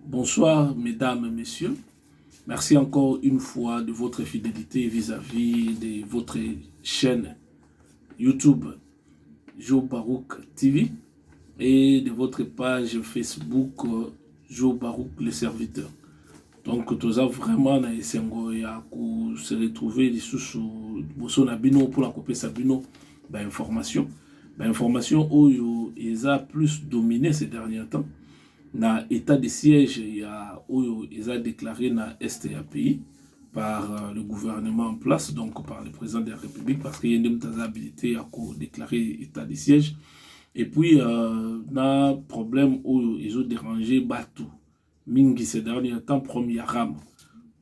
Bonsoir mesdames et messieurs. Merci encore une fois de votre fidélité vis-à-vis -vis de votre chaîne YouTube Joe Barouk TV et de votre page Facebook Joe Barouk le serviteur. Donc toza vraiment na esengo ya ko se retrouver lisusu boso na bino pour la kopesa bino ba information ba information oyo eza plus domine ces derniers temps na état de siège ya oyo eza déclaré na est ya pays par euh, le gouvernement en place donc par le président de la république parce que ye nde moto aza habilité ya ko déclarer état de siège et puis euh, na problème oyo ezo déranger bato mingi sedani ya temps promi ya ram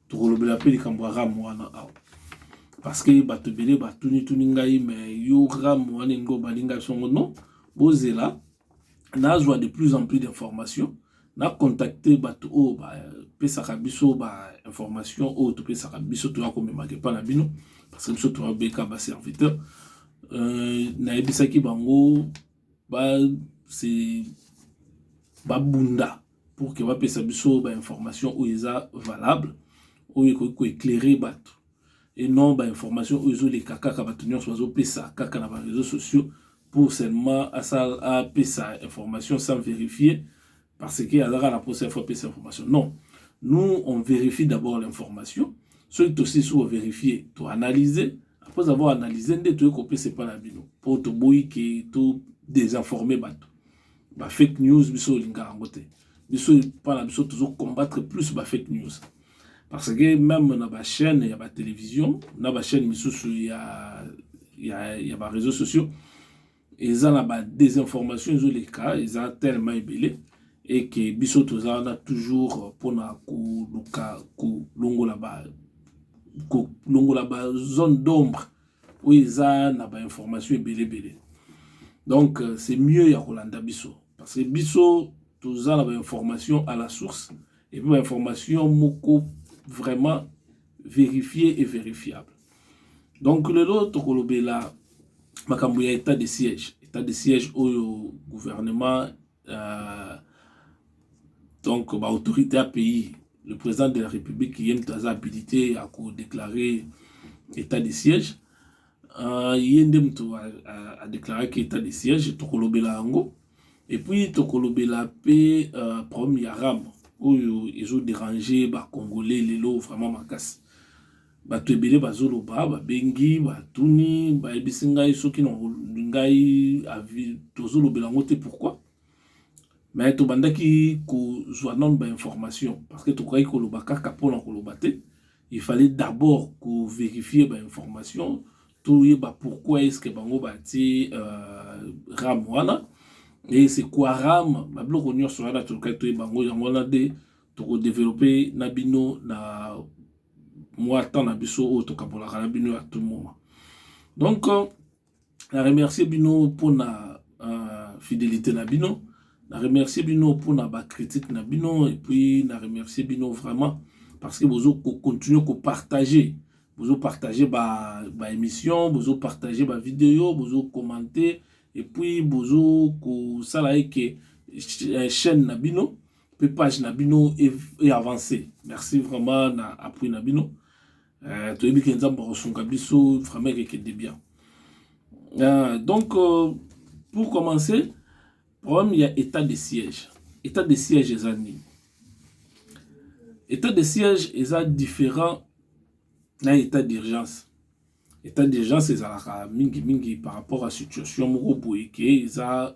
tokolobela mpe likambo ya ram wana awa parce que bato ebele batunituni ngai me yo ram wana elingi obandi ngai songo non bozela nazwa de plus en plus d'information nacontacte bato oyo bapesaka biso bainformation oyo topesaka biso toya komemaka epa na bino parce que biso toyabeka baserviteur euh, nayebisaki bango babunda pour que bapesa biso bainformation oyo eza valable oyo ekoki koeclaire bato et non bainformation oyo ezoleka kaka bato nyonso bazopesa kaka na bareseau sociaux pour seulement apesa information sans vérifier parce que aza kaka na posa ya fo apesa information non nous on vérifie d'abord l'information soki tosisi koverifie toanalyse après avoir analyse nde toyei kopesa epai na bino mpo toboyi ke to désinforme bato ba fake news biso olingaka yango te biso epai na biso tozo combattre plus ba fake news parce que même na bachaîne ya batelevizio na bachaîne misusu ya, ya, ya bareseau sociaux eza na ba desinformation ezoleka eza tellement ebele eke biso toza wana toujours mpona koluka kolongola ba kolongola ba zone d'ombre oyo eza na ba information ebele ebele donc euh, c'est mieux ya kolanda biso parce que biso toza na ba information à la source et puis ba information moko vraiment vérifier et vérifiable Donc lelo tokolobela makambo ya etat de siège etat de siège oyo gouvernement euh, donc ba autorité ya pays le président de la république ye moto aza habilité ya kodéclare etat de siège uh, ye nde moto adéclaraki etat de siège tokolobela yango epuis tokolobela mpe uh, problème ya rame oyo ezo déranger bacongolais lelo vraiment makasi Bato ebele bazoloba, babengi, batuni, bayebisi ngai soki na ngai avi tozolobela yango te pourquoi? Mais tobandaki kozwa nano ba information parce que tokokaki koloba kaka mpo na koloba te il fallait d'abord ko verifier ba information toyeba pourquoi est-ce que bango batie euh, ram wana et c'est quoi ram babiloko nyonso wana tolukaki toyeba yango yango wana nde tokodevelope na bino na mwa temps na biso oyo tokabolaka na bino ya tout moment donc na remercie bino mpo na uh, fidelité na bino na remercie bino mpo na bacritique na bino epuis na remercie bino vraiment parce que bozo kocontinue kopartage bozo partage baémission ba bozo partage bavideo bozo commente epuis bozo kosala eke eh, chaîne na bino pe page na bino e, e avancer merci vraiment na appui na bino euh, toyebi ke nzambe akosunga biso vraiment ekekende bien euh, donc euh, pour commencer problème ya état de siège état de siège eza nini état de siège eza différent na état d'urgence état d'urgence ezalaka mingimingi par rapport à situation moko boye ke eza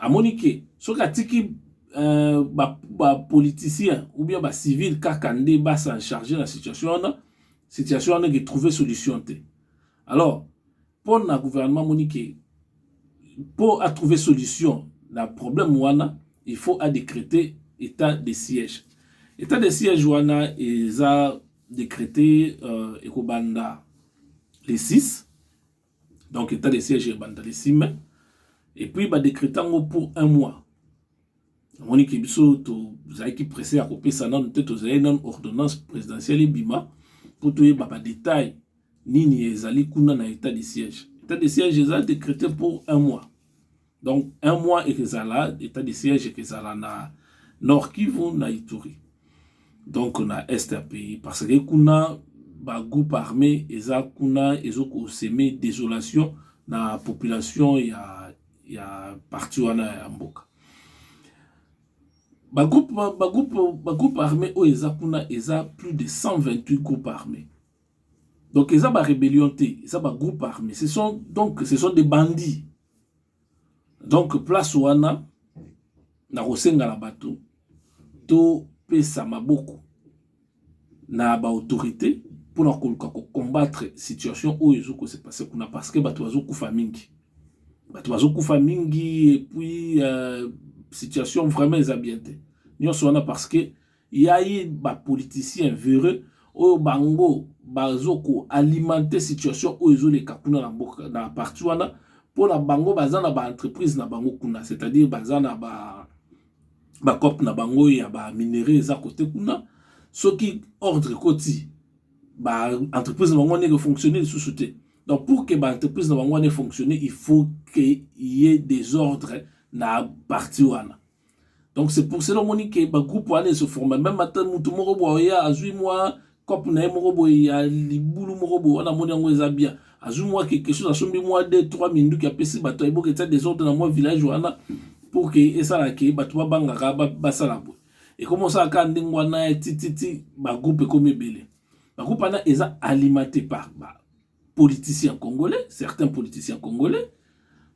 amoni ke soki atiki euh, bapoliticien ba ou bien bacivile kaka nde basa charge na situation wana situation wana eke trouve solution te alors mpo na gouvernement amoni ke mpo atrouve solution na problème wana il faut adécrete état de siège état de siège wana eza décrete euh, ekobanda le 6 donc état de siège ebanda le 6 mai et puis ba décréta yango pour un mois omoni ke biso tozalaki presse ya kopesa nano te tozali nano ordonnance présidentielle ebima mpo toyeba ba détail nini ezali kuna na état de siège état de siège eza décrété pour un mois Donc un mois ekezala etat de siège ekezala na Nord Kivu na Ituri. Donc na est ya pays parce que kuna ba groupe armé eza kuna ezo ko semer désolation na population ya ya parti wana ya mboka. Ba groupe ba groupe ba groupe armé oyo eza kuna eza plus de 128 groupes armés. Donc eza ba rébellion te, eza ba groupe armé. Ce sont donc ce sont des bandits donc place wana nakosenga na bato topesa maboko na baautorité mpo na koluka kocombattre situation oyo ezokose passe kuna parce que bato bazokufa mingi bato bazokufa mingi epuis euh, situation vraiment eza bien te nyonso wana parce que Ya ye ba politiciens vereux oyo bango bazo ko alimenter situation oyo ezo leka kuna na mboka na partie wana pona bango baza na ba entreprises na bango kuna c'est à dire baza na ba ba coop na bango ya ba minerais eza kote kuna soki ordre ekoti ba entreprises na bango wana eko fonctionner lisusu te donc pour que ba entreprises na bango wana e fonctionner il faut que ye desordre na partie wana donc c'est pour cela omoni ke bagroupe wana ese forma meme ata motu moko boye oya azwi mwa cop na ye moko boye ya libulu moko boye wana amoni yango eza bien azwi mwa quelque chose asombi mwa 2 3 minduki apesi bato ayeboka etya desordre na mwa village wana pour ke esala ke bato babangaka basala boye ekomi osala kaka ndenge wana tititi bagroupe ekomi ebele bagroupe wana eza alimate par ba politiciens congolais, certains politiciens congolais,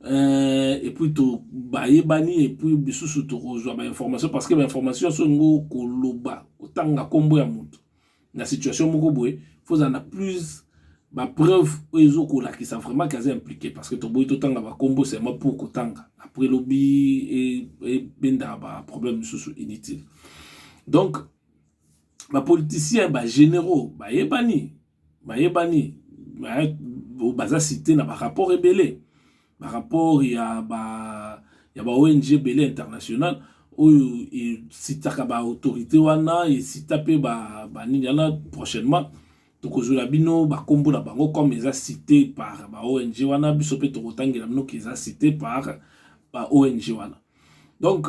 euh, et puis tout bayebani et puis bisusu to reçoit ba information parce que ba information so ngo koloba otanga kombo ya mutu na situation moko boye faut en a plus ba preuve oyo ezokolakisa vraiment kaza impliqué parce que toboyi totanga bakombo seulement pour kotanga après lobi ebenda e baproblème mosusu inutile donc bapoliticien bagénéraux bayebani bayebani baza cite na ba rapport ebele ba rapport ya ba ya ba ONG ebele international oyo esitaka ba autorité wana esita mpe ba banini wana prochainement tokozwela bino bakombo na bango comme eza cite par ba ONG wana biso mpe tokotangela bino ke eza cite par ba ONG wana donc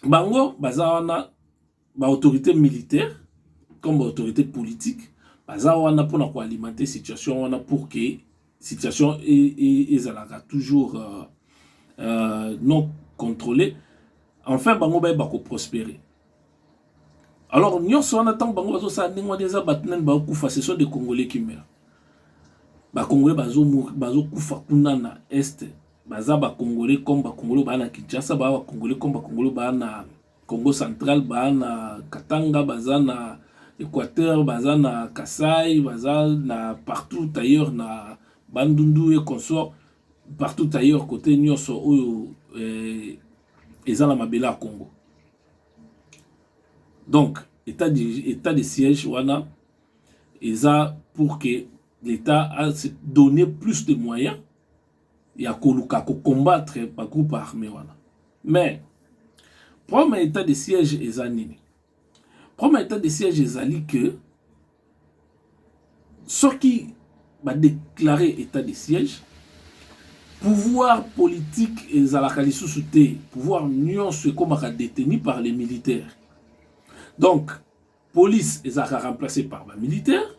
bango baza wana Ba autorites militaires comme ba autorites politiques baza wana pona ko alimenter situation wana pour que situation ezalaka toujours euh, euh, non controler enfin bango bayeba ko prospérer alors nyonso wana ntango bango bazosala ndenge wana eza bato nani bakokufa ce sont des congolais qui meurent bakongolais bazokufa kuna na est baza bakongolais comme bakongolais baa na kinshasa baa bakongolais comme bakongolais baa na Kongo central ba na katanga baza na Equateur baza na kasai baza na partout ailleurs na bandundu et consort partout ailleurs kote nyonso oyo eh, eza na mabele ya Congo donc état de, état de siège wana eza pour que l'État a se donner plus de moyens ya koluka ko combattre ba groupe arme wana mais problème ya etat de siège eza nini problème ya etat de siège ezali que soki ba déclare état de siège pouvoir politique ezalaka lisusu te pouvoir nyonso ekomaka détenu par les militaires donc Police ezalaka remplacer par ba militaires.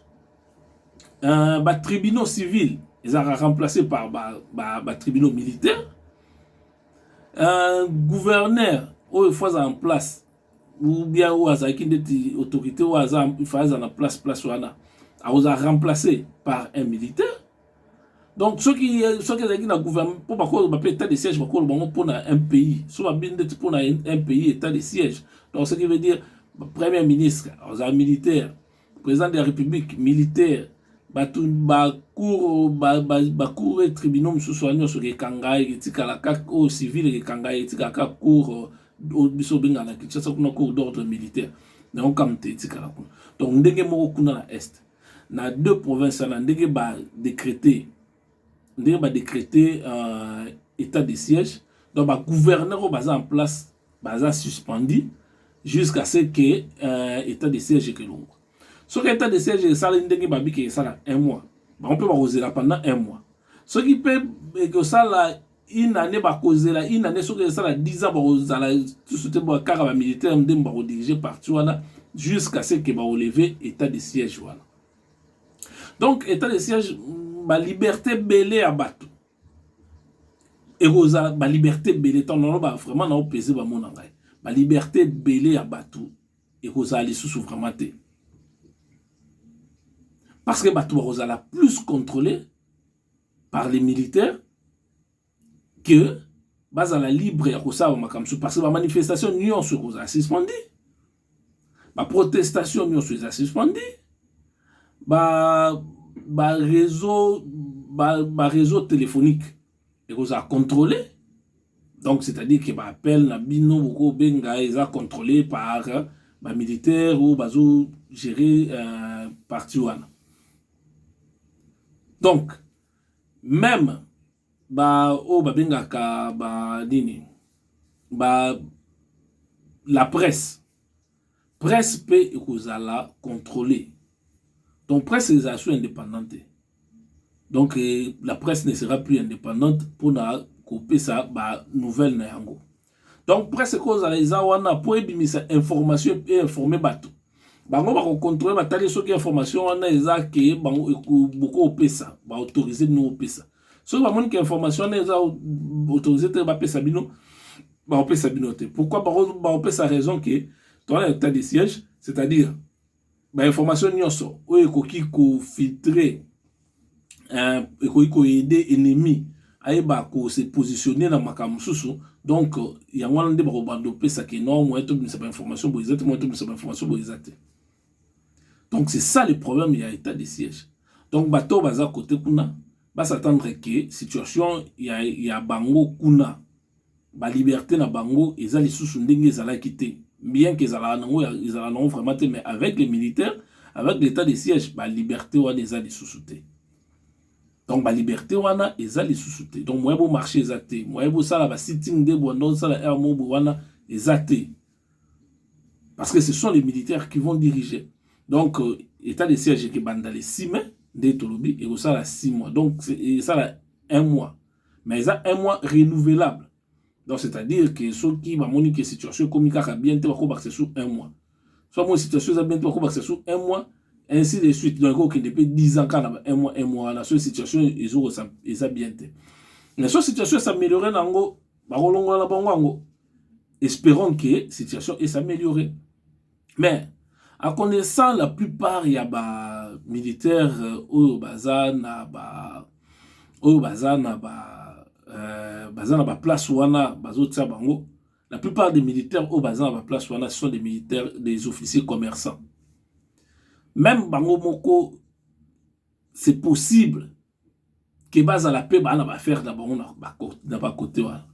Euh, ba tribunaux civils ezalaka remplacer par ba, ba, ba tribunaux militaires. Euh, gouverneur oyo fois en place ou bien oyo azalaki ndeti autorité oyo aza ifa aza na place place wana akozala remplacer par un militaire donc soki soki ezalaki na gouvernement mpo bakoloba mpe état de siège bakoloba yango mpo na un pays so babi ndeti mpo na un pays état de siège donc ce qui veut dire premier ministre azala militaire président de la république militaire bato bacour bacour e tribunaux mosusu wana nyonso ekekanga etikala kaka oyo civil ekekanga etikala kaka cour oyo biso obenga na kinshasa kuna cour d'ordre militaire yango kamte etikala kuna donc ndenge moko kuna na est na deux provinces wana ndenge ba decrete ndenge ba decrete uh, état de siège donc ba gouverneur oyo baza en place baza suspendu jusqu'à ce que uh, état de siège ekelongwa soki état de siège esala ndenge babiki esala un mois bango mpe bakozela pendant un mois soki mpe ekosala une année bakozela une année soki esala 10 ans bakozala lisusu te kaka bamilitaire nde bakodirige parti wana jusqu'à ce que baoleve état de siège wana donc état de siège baliberté ebele ya bato ekozala baliberté ebele ntango naloba vraiment naopese bamona ngai baliberté ebele ya bato ekozala lisusu vraiment te parce que bato bakozala plus contrôle par les militaires que bazala libre ya kosala bamakambo mosusu parce que bamanifestation nyonso ekozala suspendi baprotestation nyonso eza suspendi bareseau ba ba réseau téléphonique ekozala contrôlé donc c'est-à-dire que baappel na bino bokobenga eza contrôlé par bamilitaire oyo bazogérer euh, parti wana donc meme ba oyo babengaka ba nini ba la presse presse mpe ekozala contrôle donc presse ezala su indépendante te donc eh, la presse ne sera plus indépendante mpona kopesa ba nouvelle na yango donc presse ekozala eza wana mpo ebimisa information einforme bato bango bakokontrole batali soki information wana eza ke bango bokopesa baautorise bino kopesa soki bamoni ke information wana eza autorise te bapesa bino bakopesa bino te pourquoi bakopesa raison ke towana etat de siège c'est-à-dire ba information nyonso oyo ekoki kofiltre euh, ekoki koyede ennemi ayeba kose positionne na makambo mosusu donc yango wana nde bakobanda opesa ke no moyen tobimisa bainformation boye eza te moyen tobimisa bainformation boye eza te donc c'est ça le problème ya état de siège donc bato oyo baza kote kuna basatendre ke situation ya, ya bango kuna ba liberte na bango eza lisusu ndenge ezalaki te bien que ezalaka nango ezalaka nango vraiment te mais avec les militaires avec l'état de siège ba liberte wana eza lisusu te donc ba liberte wana eza lisusu te donc moyen bomarche eza te moyen bosala ba sitting de bwanda osala air mobo wana eza te parce que ce sont les militaires qui vont diriger donc euh, état de siège ekebanda le 6 mai nde tolobi ekosala 6 mois donc esala 1 mois mais eza un mois renouvelable donc c'est à dire que soki bamoni ke situation ekomi kaka bien te bakobakisa sur un mois so amoni situation eza bien te bakobakisa sur un mois ainsi de suite donc ekokende mpe 10 ans kaka na un mois un mois wana soki situation ezokosa eza bien te mais so situation esameliorer na yango bakolongola na bango yango espérons que situation esameliorer mais a connaissant la plupart ya ba militaire euh, oyo baza na ba oyo baza na ba euh, baza na ba place wana bazotia bango la plupart des militaires oyo baza na ba place wana sont des militaires des officiers commerçants même bango moko c'est possible que bazala pe ba na ba affaire na bango na ba cote wana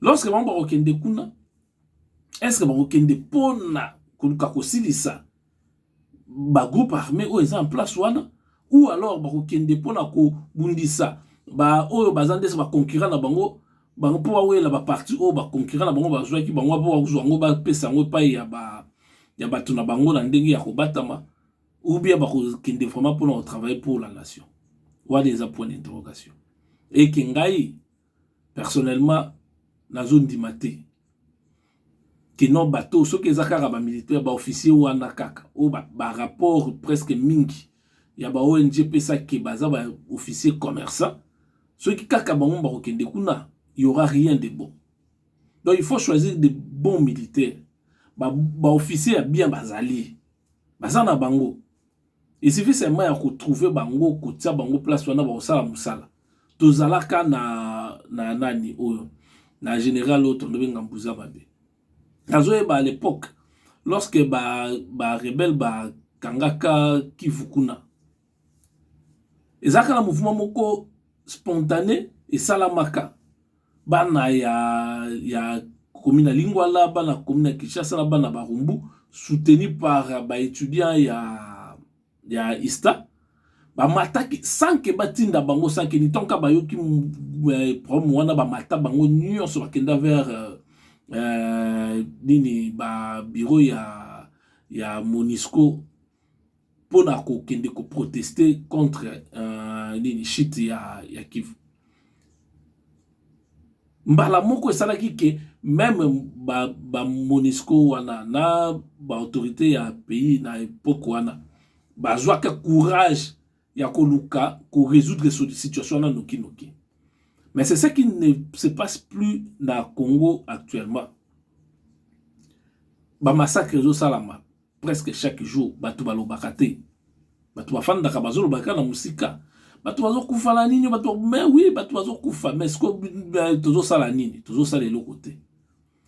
lorsque bango bakokende kuna est ce que bakokende pona koluka kosilisa ba groupe armé oyo eza en place wana ou alors bakokende pona kobundisa ba oyo baza ndese ba concurrent na bango bango mpo bawela ba parti oyo ba concurrent na bango bazwaki bango mpo bazwa yango bapesa yango epai ya ba ya bato na bango na ndenge ya kobatama ou bien bakokende vraiment mpona kotravaille pour la nation wana eza point d'interrogation eke ngai personnellement nazondima te kino bato soki eza kaka bamilitaire baofficier wana kaka oyo barapport ba presque mingi ya ba ong pesake baza baofficier commerçant soki kaka bango bakokende kuna y aura rien de bon donc il faut choisir de bons militaires baofficier ba ya bien bazali baza na bango esifi seulement ya kotrouve bango kotia bango place wana bakosala mosala tozalaka na na nani oyo na general oyo tondobe ngambuza mabe nazoyeba à l'époque lorsque ba, ba rebelle bakangaka kivu kuna eza kaka na mouvement moko spontane esalamaka bana ya, ya komi na lingwala bana komi na kinshasa na bana barumbu soutenu par baétudiant ya, ya ista bamataki sanke batinda bango sanke nitonka bayoki eh, problème wana bamata bango nyonso bakenda vers euh, euh, nini ba bureau ya, ya monisco mpo na kokende koproteste contre uh, nini chute ya, ya Kivu. Mbala moko esalaki ke meme ba, ba Monisco wana na ba autorité ya pays na epoque wana bazwaka courage ya koluka ko résoudre situation wana noki noki. Mais c'est ce qui ne se passe plus na Congo actuellement. Ba massacres ezosalama presque chaque jour batu balobaka te batu bafandaka bazoloba kaka na mosika batu bazokufa na nini batu mais oui batu bazokufa mais siko euh, tozosala nini tozosala eloko te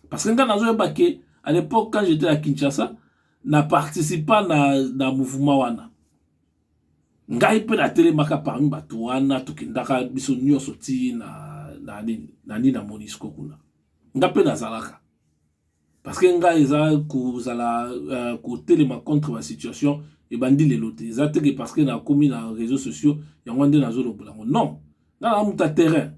parce que ngai nazoyeba ke à l'époque quand j'étais à kinshasa na participa na, na mouvement wana ngai mpe natelemaka parmi bato wana tokendaka biso nyonso ti na nini na nini na monisco kuna ngai mpe nazalaka parce que ngai eza kozala uh, kotelema contre ba situation ebandi lelo te eza te ke parce que nakomi na réseaux sociaux yango nde nazolobola yango non nga na muta terrain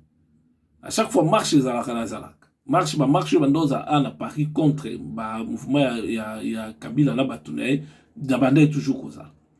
à chaque fois marche ezalaka nazalaka marche ba marche oyo banda ozala a na paris contre ba mouvement ya, ya, ya kabila na bato na ye na bandai toujours kozala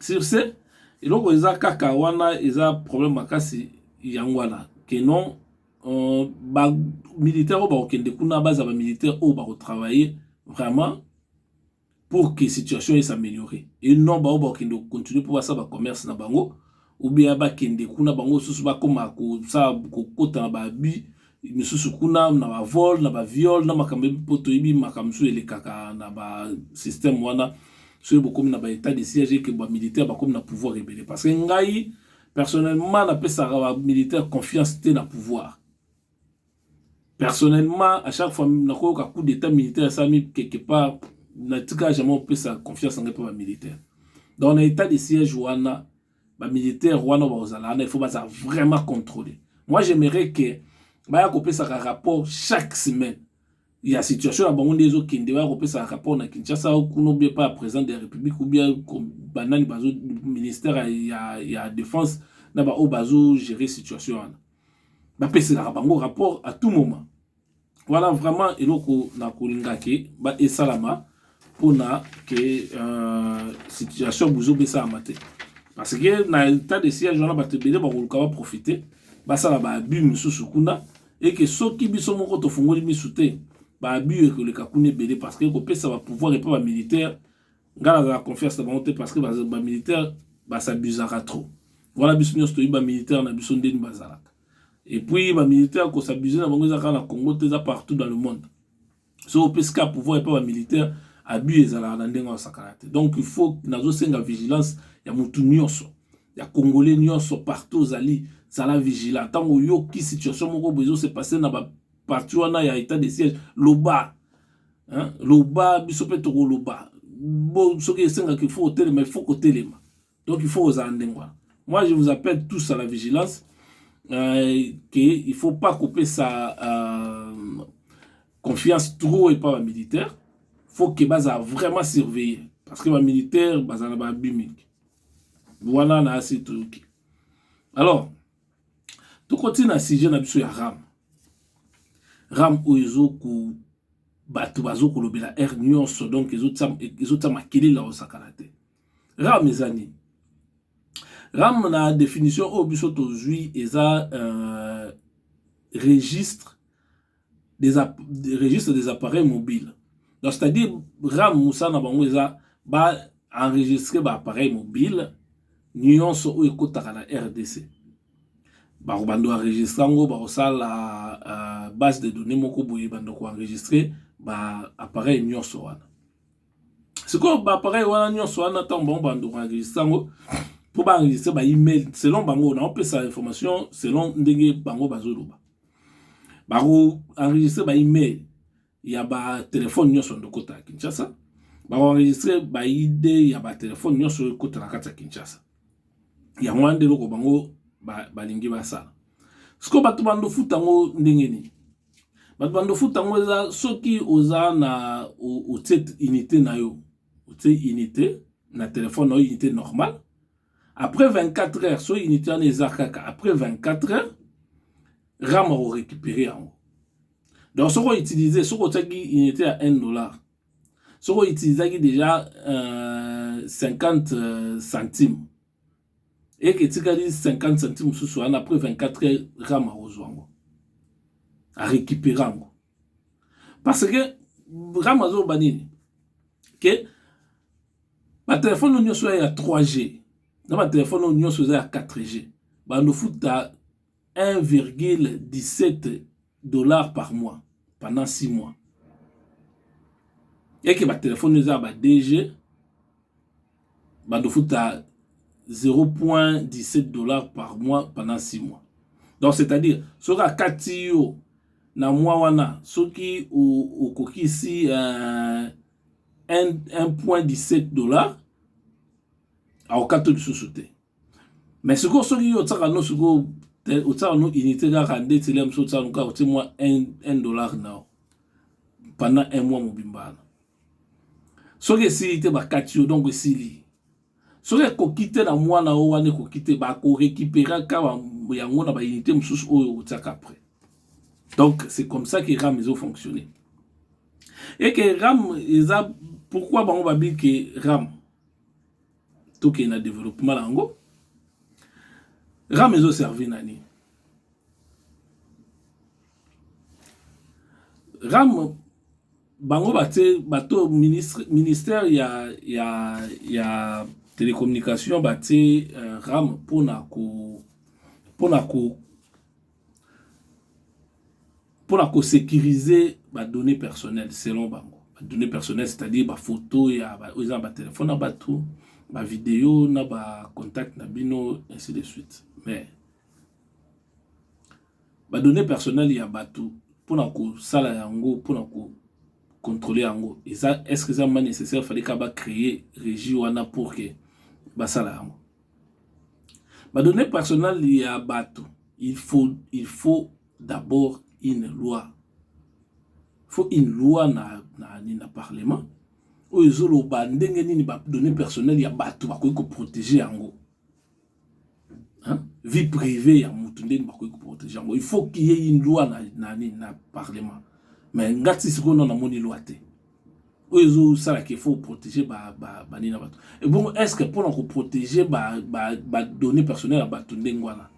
sur ce eloko eza kaka wana eza problème makasi yango wana que non euh, ba militaire oyo bakokende kuna baza ba militaire oyo bakotravailler vraiment pour que situation esa améliorer et non baoyo bakokende kocontinue mpo basala bacommerce na bango ou bien ba kende kuna bango susu ba koma ko sa ko kota na ba abus misusu kuna na ba vol na ba viol na makambo po toyebi makambo misusu elekaka na ba système wana soki bokomi na ba état de siège que ba militaire bakomi na pouvoir ebele parce que ngai personnellement napesaka ba militaire confiance te na pouvoir Personnellement, à chaque fois nakoyoka coup d'état militaire esalami quelque part, natika jamais opesa confiance nanga mpe ba militaire. Donc na état de siège wana ba militaire wana bakozala wana, il faut baza vraiment contrôler. Moi j'aimerais que baya kopesaka rapport chaque semaine ya situation na bango nde ezokende, baya kopesaka rapport na Kinshasa kuna obie pa président de la République obie banani bazo ministère ya, ya, ya défense na baoyo bazo gérer situation wana. bapeselaka bango rapport à tout moment wana vraiment eloko na kolingaki ba esalama mpona ke euh, situation buzoba esalama te parce que na état de siège wana bato ebele bakoluka baprofite basala baabus mosusu kuna eke soki biso moko tofungoli misu te baabus ekoleka kuna ebele parce que ekopesa bapouvoir epai bamilitaire nga nazala confiance na bango te parce que ba militaire ba s'abusaka trop voilà biso nyonso toyebi ba militaire na biso ndeni bazalaka et puis ba militaire ko s'abuser na bango eza kaka na Congo te eza partout dans le monde so opesi ka pouvoir epa ba militaire abus ezalaka na ndenge wasakana te donc il faut nazosenga vigilance ya motu nyonso ya congolais nyonso partout ozali zala vigilant ntango oyoki situation moko boye ezose passe na baparti wana ya état de siège loba hein? loba biso mpe tokoloba bo soki esengaka il faut otelema il faut kotelema donc il faut ozala ndenge wana moi je vous appelle tous à la vigilance euh, que il faut pas kopesa euh, confiance trop epa bamilitaire faut ke bazala vraiment surveiller parce que bamilitaire bazala na babi mingi wana na asi toyoki alors tokoti na sujet na biso ya ram ram oyo ezoku bato bazokolobela aire nyonso donc ezotia makelele osakana te ram eza nini ram na definition oyo biso tozwi eza euh, registre des registre des appareils mobiles donc c'est à dire ram mosala na bango eza ba enregistre ba appareil mobile nyonso oyo ekotaka na rdc bakobanda enregistre yango bakosala uh, base de données moko boye banda koenregistre ba appareil nyonso wana sikoyo ba appareil wana nyonso wana ntango bango bando koenregistre yango mpo baenregistre ba email selon bango naopesa information selon ndenge bango bazoloba bakoenregistre ba email ya batelefone nyonso ndokota ya kinshasa bakoenregistre baide ya batelefone nyonso ekota na kati ya kinshasa yango wana nde eloko bango balingi basala sikoyo bato bandofuta yango ndenge nini bato banda ofuta yango eza soki oza na otie unité na yo otie unité na telefone na yo unité normal après 24 heures so unité wana eza kaka après 24 heures ram akorécupere yango donc soki outilize soki otiaki unité ya 1 dollar soki outilizaki déjà euh, 50 euh, centime eke etikali 50 centime mosusu wana après 24 heures rama akozwa yango arécupere yango parce que rama azoloba nini ke batelefone oyo nyonso ya 3g na batelefone oyo nyonso eza ya 4g bando futa 1,17 dollars par mois pendant six mois et que ba telephone eza ba DG bando futa 0,17 dollars par mois pendant six mois donc c'est-à-dire soki akati yo na mwa wana soki okokisi euh, 1,17 dollars akokata lisusu te mais sikoyo soki yo otiaka no sikoyo otiaka no unité kaka nde tele mosusu otiaka no kaka otie mwa 1 dollar nao pendant un mois mobimba wana soki esili te bakati yo donc esili soki ekoki te na mwana o wana ekoki te bakorekipera kaka yango na baunité mosusu oyo otiaka après donc c'est comme ça que ram ezo fonctionner eke ram eza pourquoi bango babi ke ram tokende na developpement na yango ram ezo servir na nini ram bango batie bato ministre, ministère ya, ya, ya telecommunication batie uh, ram mpona ko mpona ko pona ko securiser ba donnees personnelles selon bango ba donnees personnelles c'est à dire ba photos ya ba oyo eza na ba telephone ya batu ba videos na ba contacts na bino ainsi de suite mais ba donnees personnelles ya batu pona kosala yango pona ko controle yango eza est ce que eza vraiment necessaire fallait kaka ba cree regie wana pour que basala yango. Ba donnees personnelles ya batu il faut il faut d'abord une loi il faut une loi na na nini na parlement oyo ezo loba ndenge nini ba donnees personnelles ya batu bakoki ko proteger yango hein vie privee ya mutu ndenge nini bakoki ko proteger yango il faut qu'il y ait une loi na na nini na parlement mais nga ti sikoyo na namoni loi te oyo ezosala ke faut protéger banini na bato ebongo est ce que mpona koprotege badonnées personnel ya bato ndenge wana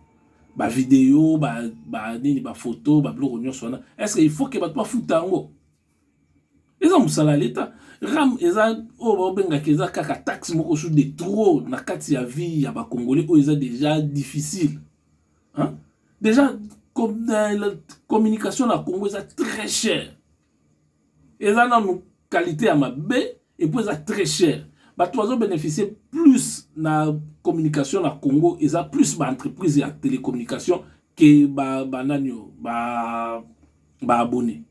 bavideo banini bafoto babiloko nyonso wana est ce que il faut ke bato bafuta yango eza mosala ya leta ram eza oyo babengaka eza kaka taxe moko su de trop na kati ya vie ya bacongolais oyo eza déjà difficile hein? déjà euh, communication na congo eza très cher eza nanu qualité ya mabe epuis eza très cher bato bazo bénéficier plus na communication na congo eza plus ba entreprise ya télécommunication ke ba, ba nani oyo ba, ba abonné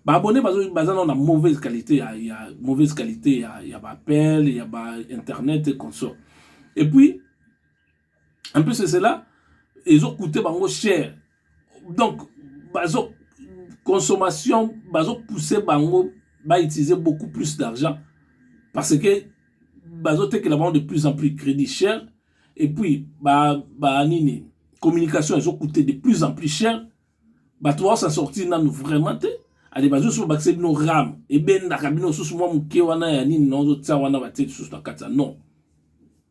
baabonne baza nao na mauvaise qualité ya, ya mauvaise qualité ya, ya baappel ya ba internet et consort et puis en plus de cela ezo coûter bango cher donc bazo consommation bazo pousser bango ba utiliser beaucoup plus d'argent parce que bazo tekela bango de plus en plus crédit cher et puis ba ba nini communication ezo coûter de plus en plus cher bato baosa sortir nanu vraiment te ale bazosusu babakisa bino ram ebendaka bino susu mwa moke wana ya nini naozotia wana batie lisusu na kati ya non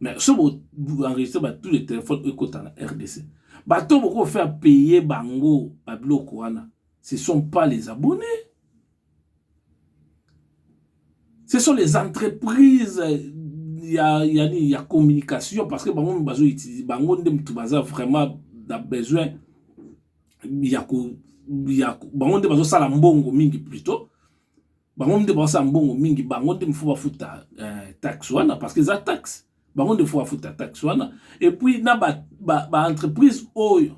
mais so boenregistre ba tous les téléphones ekota na rdc bato boko faire payer bango babiloko wana ce sont pas les abonnés ce sont les entreprises ya, ya, ya communication parce que bango bazo utilise bango nde moto baza vraiment na besoin ya ko ya bango nde bazosala mbongo mingi plutôt bango nde baosa mbongo mingi bango nde mifo bafuta eh, taxe wana parce que eza taxe bango nde fo bafuta taxe wana epuis na baentreprise ba, ba oyo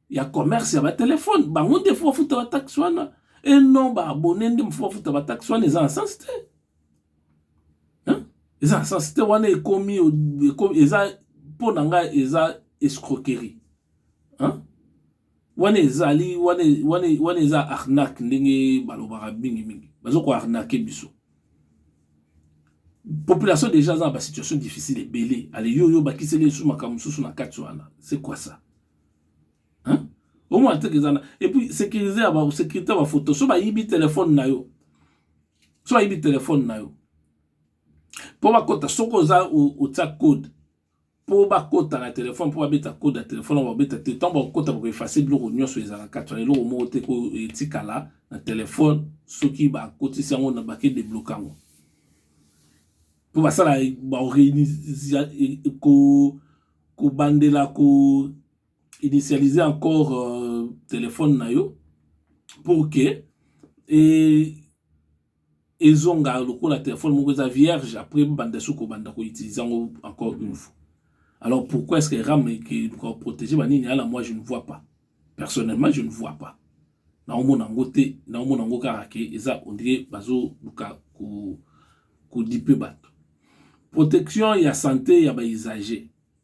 ya commerce ya batelefone bango nde fo bafuta bataxe wana e non baabone nde mifo bafuta bataxe wana eza na sens te eza na sens te wana ekomi eza mpo na ngai eza escroquerie hein? Wana ezali wana wana wana eza arnaque ndenge balobaka mingi mingi bazo ko arnaquer biso population déjà aza na ba situation difficile ebele ale yo yo bakiseli esu makambo mosusu na kati wana c'est quoi ça hein omona teke eza na et puis sécurité ya ba sécurité ya ba photo so bayibi telefone na yo so bayibi telefone na yo mpo bakota soki oza otya code po bakota na telefone po babeta code ya telefone yango bakobeta te ntango bakokota bakoefase biloko nyonso ezala kati wana eloko moko te oyo etikala na telefone soki bakotisi yango na bake debloke yango mpo basala kobandela ko initialize encore euh, telefone na yo pour que e ezonga lokola telephone moko eza vierge après banda soko banda ko utiliser yango encore une fois alors pourquoi est-ce que ram qui ko protéger ba nini ala moi je ne vois pas personnellement je ne vois pas na omona ngo te na omona ngo kaka ke eza on dirait bazo luka ko ko dipe bato protection ya santé ya ba usagers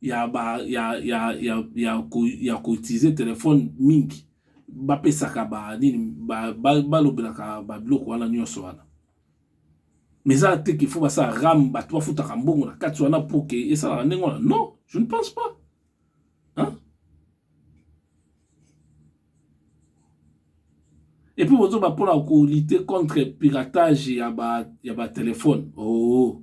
ya ba ya ya ya ya ko ya ko utiliser telephone mingi bapesaka ba nini balobelaka ba biloko wana nyonso wana mais eza te qu'il faut basala ram bato bafutaka mbongo na kati wana pour ke esalaka ndenge wana non je ne pense pas hein? et puis bozoba mpona kolite contre piratage ya ba ya batelefone oo oh.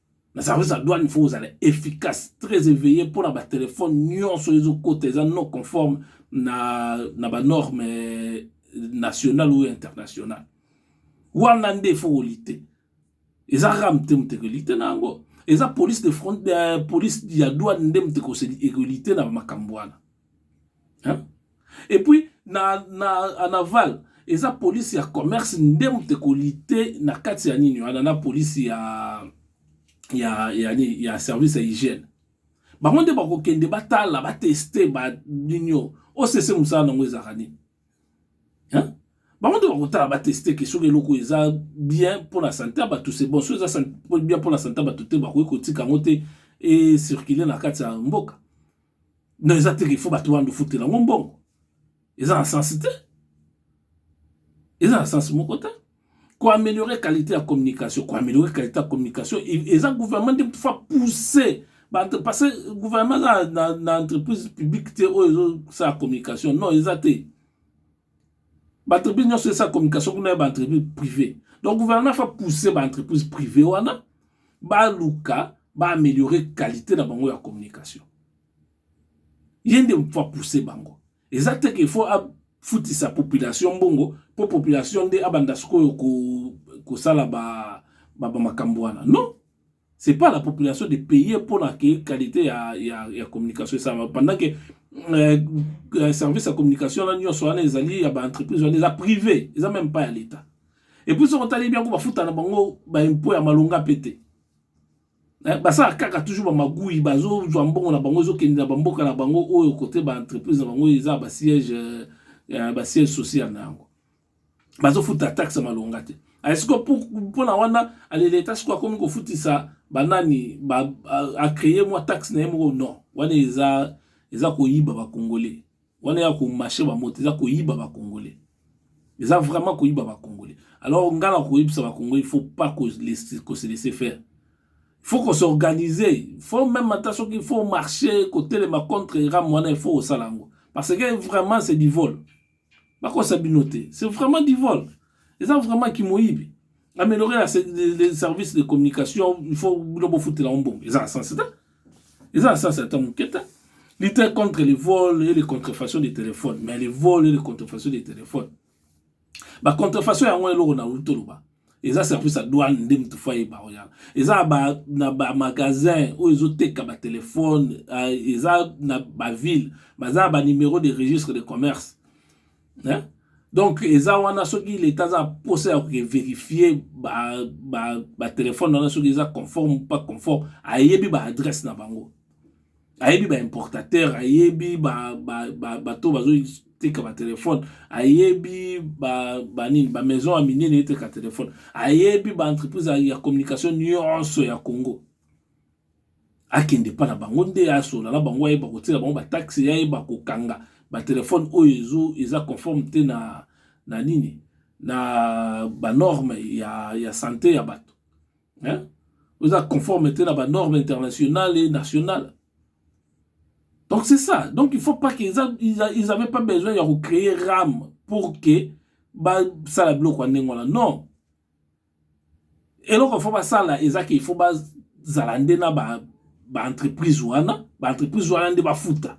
na service ya douane faut ozala efficace très éveillé mpo na batelefone nyonso ezokota eza non conforme na, na banorme euh, nationale ou internationale wana nde faut kolite eza kaka mte moto ekolite na yango eza police de front, euh, police ya douane nde moto ekolite na makambo wana et puis na, na en aval eza police ya commerce nde moto ekolite na kati ya nini wana na police ya ya ya, ya, ya service ya hygiène bango nde bakokende batala bateste banini oyo osese mosala nango ezalaka nini bango nde bakotala bateste ke soki eloko eza bien mpo na sante ya bato se bon soki eza bien mpo na sante ya bato te bakoki kotika yango te ecircule na kati ya mboka non eza te faut bato wana ofutela yango mbongo eza na sense te eza na sense moko te koameliore qualité ya communication koameliore qualité ya communication eza gouvernement nde fa pousser parce que gouvernement eza na entreprise publique te oyo ezosala communication non eza te Baentreprise nyonso esala communication kuna ya baentreprise prive donc gouvernement fa pousse baentreprise prive wana baluka baaméliore qualité na bango ya communication ye nde fa pousse bango eza te ke faut afutisa population mbongo mpo population nde abanda sikoyo kosala ba, ba, ba makambo wana non c'est pas la population de payer pour la qualité ya, ya, ya communication esalama pendant que euh, euh, service ya communication na nyonso wana ezali ya baentreprise wana eza privé eza même pas ya l'état et puis soki otali biango bafuta na bango baimpo ya malonga mpe te eh, basala kaka toujours bamagui bazozwa mbongo na bango ezokende na bamboka na bango oyo kote baentreprise na bango eza basiège euh, basiège social na yango bazofuta taxe malonga te esiko mpona wana aleleta siko akomi kofutisa banani ba, acreye mwa taxe na ye moko non wana eza eza koyiba bakongole wana ya komashe bamoto eza koyiba bakongole eza vraiment koyiba bakongole alors ngai na koyebisa bakongole il faut pas kose laisser faire faut qu'on s'organise faut même ata soki faut marcher kotelema contre ram wana il faut osala yango parce que vraiment c'est du vol bakosa bino te c'est vraiment du vol eza vraiment kimoyibi améliorer la, les services de communication il faut bino bofutela yango mbongo eza na sens te eza na sens ata moke te lutter contre les vols et les contrefaçons des téléphones mais les vols et les contrefaçons des téléphones bacontrefaçon yango eloko na utoloba eza service ya douane nde mutu fo ayeba oya eza ba, na ba magasin oyo ezoteka ba telefone uh, eza na ba ville baza na ba numero de registre de commerce eh? donc eza wana soki leta aza posa ya koverifie batelefone ba, ba wana soki eza conforme pas conforme ayebi baadresse na bango ayebi ba importateur ayebi ba ba ba bato bazo teka ba telefone ayebi ba ba nini ba maison ya minene eteka telefone ayebi ba entreprise ya communication nyonso ya Congo akende epa na bango nde asola na bango ayeba kotiela bango bataxe ayeba kokanga batelefone oyo ezo eza conforme te na na nini na banorme ya, ya sante ya bato hein? oza conforme te na ba norme internationale et nationale donc c'est ça donc il faut pas que ils avaient pas besoin ya kocréer rame pour que basala biloko ya ndenge wana non eloko fo basala eza ke fo bazala nde na ba entreprise wana ba entreprise wana nde bafuta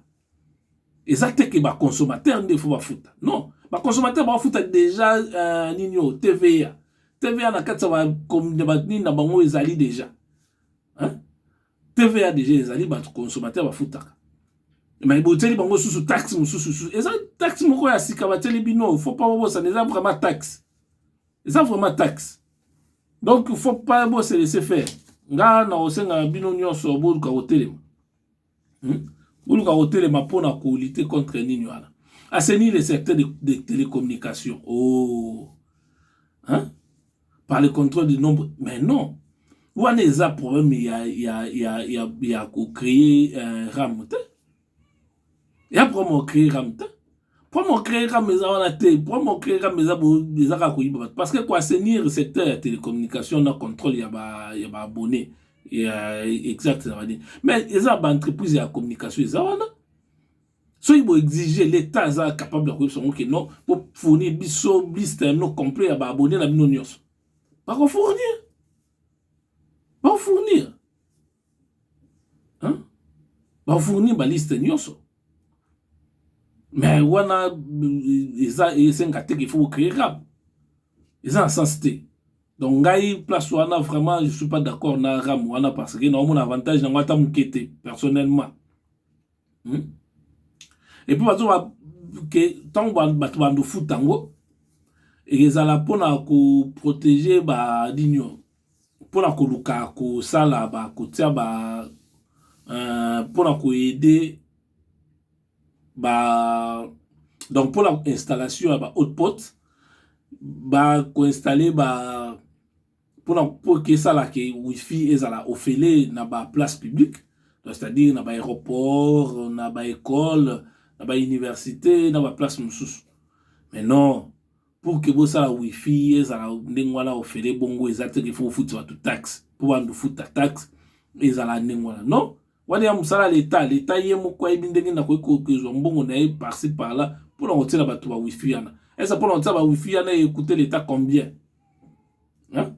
eza te ke ba consommateur nde faut bafuta non ba consommateur bafuta déjà uh, nini oyo tva tva na kati ya banini na bango ezali déjà hein? tva déjà ezali bato consommateur bafutaka mai botieli bango susu taxe mosusu susu eza taxe moko ya sika batieli bino faut pas bobosana eza vraiment taxe eza vraiment taxe donc faut pas bose laisser faire nga na kosenga bino nyonso boluka kotelema Hmm? Boluka kotelema mpo na kolite contre nini wana assainir le secteur de, de télécommunication oh. hein? par le contrôle du nombre mais non wana eza problème ya, ya, ya, ya, ya kocreye uh, ram te ya problème ocreye ram te Problème au créer comme eza wana te, problème au créer comme eza bo eza ka koyiba bato parce que ko assainir secteur ya télécommunication na contrôle ya ba ya ba abonnés ya exact na bani mais eza ba entreprise ya communication eza wana soki bo exige l'État aza capable ya koyebisa ngo ke non bo fournir biso liste ya bino complet ya ba abonnés na bino nyonso bako fournir bako fournir hein? ba fournir ba liste nyonso mais wana euh, eza esenga te qu'il faut créer rap eza na sens te donc ngai place wana vraiment je suis pas d'accord na ram wana parce que naomona avantage nango ata moke te personnellement hmm? et puis bazo ke ntango bato bandofuta yango ekezala mpona koprotege ba nini oyo mpo na koluka kosala ba kotia ba uh, mpo na koyede ba donc mpo na installation ya ba haute pote ba koinstalle ba mpo na mpo kesala ke wifi ezala ofele na ba place publique donc c'est-à-dire na ba aéroport na ba école na ba université na ba place mosusu mais non pour que bosala wifi ezala ndenge wana ofele bongo eza te qu'il faut ofuti bato taxe mpo bando ofuta taxe ezala ndenge wana non wana ya mosala leta leta ye moko ayebi ndenge nakoki kozwa mbongo na ye parci parla mpo na kotiela bato ba wifi wana eza mpo na kotiela ba wifi wana ekute leta combien hein?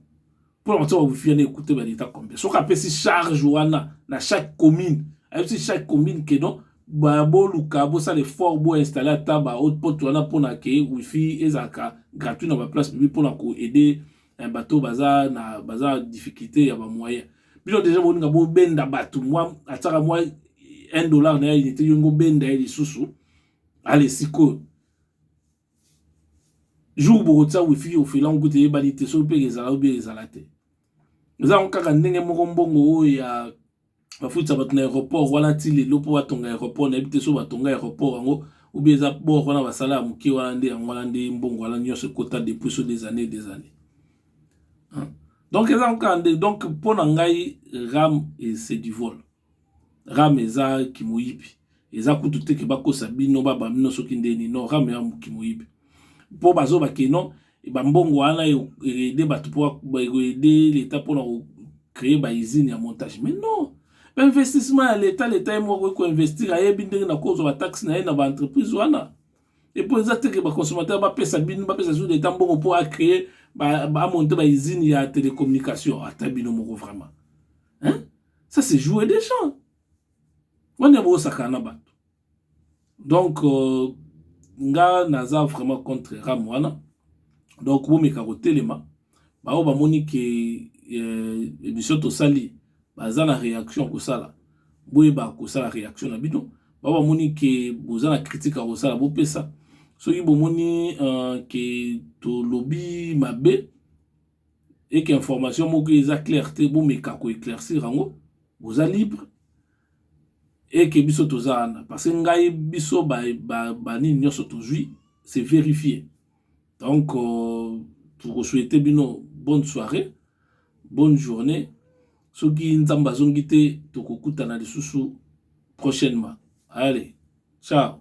mpo na kotia bawifi wana ekute ba leta combien soki apesi charge wana na chaque commune ayebisi chaque commune ke non boluka bosala effort boinstalle ata ba haute porte wana mpo na ke wifi ezalaka gratuit na baplace publique mpo na koaide eh, bato baza na baza difficulté ya bamoyen bino deja boninga bobenda bato mwa atiaka mwa 1 dollar na ya unité yongo obenda ye lisusu ale sikoyo jour bokotia wifi ofela yango kutu eyebani te soki mpe ezala oyo mpe ezala te eza yango kaka ndenge moko mbongo oyo ya bafutisa bato na aéroport wana ti lelo mpo batonga aéroport nayebi te soki batonga aéroport yango obi eza bor wana basala ya moke wana nde yango wana nde mbongo wana nyonso ekota depuis so des années des années donc eza yango kaka nde donc mpo na ngai ram c'est du vol Rame eza kimoyibi eza kutu te ke bakosa bino ba boma bino soki ndeni non rame eza kimoyibi po bazo ba ke non ba mbongo wana e aider batu po ba ko aider l'etat pona ko cree ba usine ya montage mais non ba investissement ya l'etat l'etat ye moko akoki ko investir ayebi ndenge na kozwa ba taxe na ye na ba entreprise wana et po eza te ke ba consommateur ba pesa bino ba pesa soki l'etat mbongo po a cree ba a monter ba usine ya telecommunication ata bino moko vraiment hein ça c'est jouer des gens wana bosakana na bato donc euh, nga naza vraiment contre ram wana donc bomeka kotelema baoyo bamoni ke euh, émission tosali baza na réaction kosala boyeba kosala réaction na bino bao bamoni ke boza na critique ya kosala bopesa soki bomoni uh, ke tolobi mabe et que information moko eza claire te bomeka ko eclaircir yango boza libre et que biso toza wana parce que ngai biso ba ba, ba nini nyonso tozwi c'est vérifié donc euh, toko souhaiter bino bonne soirée bonne journée soki nzambe azongi te tokokutana lisusu prochainement allez ciao